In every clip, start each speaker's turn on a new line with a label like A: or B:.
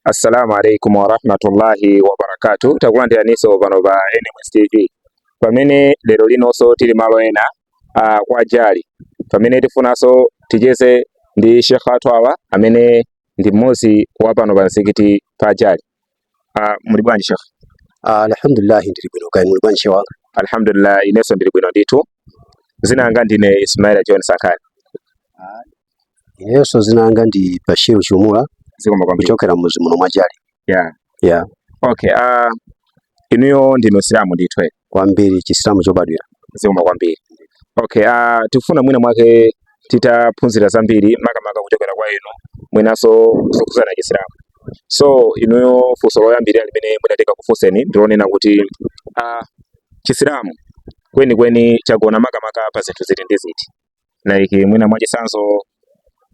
A: assalamu alaikum warahmatullahi wabarakatu takulandiraniso pano pa NMS TV pamene lero linonso tili malo ena uh, kwa jali pamene tifunanso ticheze ndi Sheikh athu awa amene ndi mmodzi wa pano pa msikiti pa jali uh, muli bwanji Sheikh uh, alhamdulillah ndili bwino kaya muli bwanji Sheikh wanga alhamdulillah inenso ndili bwino ndithu zina langa ndine Ismail John Sankani Inenso dzina langa ndi Bashir Chumula zikomo kwambiri kuchokera mudzi muno mwa Jali yeah yeah okay uh, inuyo ndinu msilamu ndithu eh? kwambiri chisilamu chobadwira zikomo kwambiri okay uh, tifuna mwina mwake titaphunzira zambiri makamaka kuchokera kwa inu mwinanso zokhudzana chisilamu so inuyo funso loyambirira limene mwina titakakufunseni ndilonena kuti uh, chisilamu kwenikweni chagona makamaka pa zinthu ziti ndi ziti like mwina mwachisanzo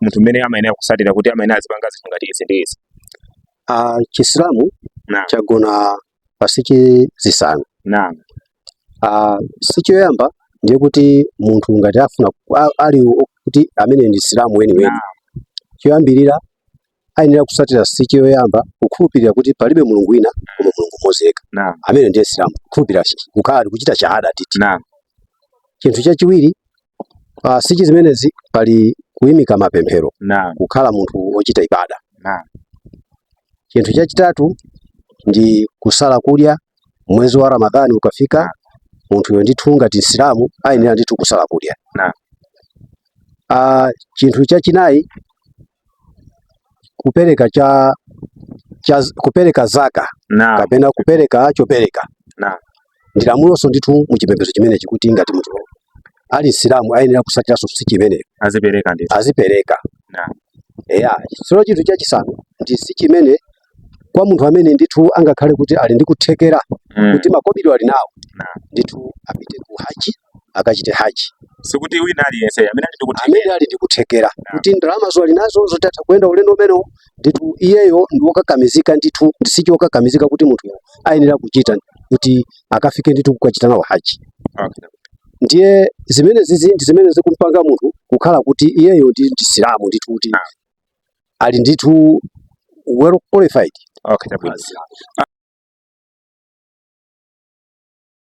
A: munthu mmene amayenera kusatira kuti amayenera azipanga zinthu ngati izi ndi izi Ah, chisilamu Naam. chagona pa sichi zisanu naam Ah, sichi yoyamba ndiye kuti munthu ngati afuna a- ali o- kuti amene ndi msilamu weniweni choyambirira ayenera kutsatira sichi yoyamba kukhulupirira kuti palibe mulungu wina koma mulungu mmodzi yekha Naam. amene ndiye msilamu kukhulupirira kukhala ali kuchita shahada titi Naam. chinthu chachiwiri uh, sichi zimenezi pali kuimika mapemphero Naam. kukhala munthu wochita ibada Naam. chinthu chachitatu ndi kusala kudya mwezi wa ramadhani ukafika munthuyo ndithu ngati msilamu ayenera ndithu kusala kudya Naam. Ah, chinthu chachinayi kupereka cha, cha kupereka zaka na kapena kupereka chopereka na ndi lamuloso ndithu mu chipembedzo chimenechi kuti ngati munthu ali Msilamu ayenera kusatiranso sichi imene azipereka ndi azipereka na eya sono chinthu chachisanu ndi sichi imene kwa munthu amene ndithu angakhale kuti ali ndi kuthekera mm. kuti makobiri ali nawo ndithu apite ku haji akachite haji sikuti wina aliyense amene ali ndikuthekera amene ali ndikuthekera kuti ndalamazo ali nazo zoti atha kuyenda ulendo umenewu ndithu iyeyo ndi wokakamizika ndithu ndi sichi yokakamizika kuti munthuyo ayenera kuchita kuti akafike ndithu kukachita nawo haji okay. ndiye zimenezizi ndi zimene zikumpanga munthu kukhala kuti iyeyo ndi msilamu ndithu kuti ali ndithu well qualified okay,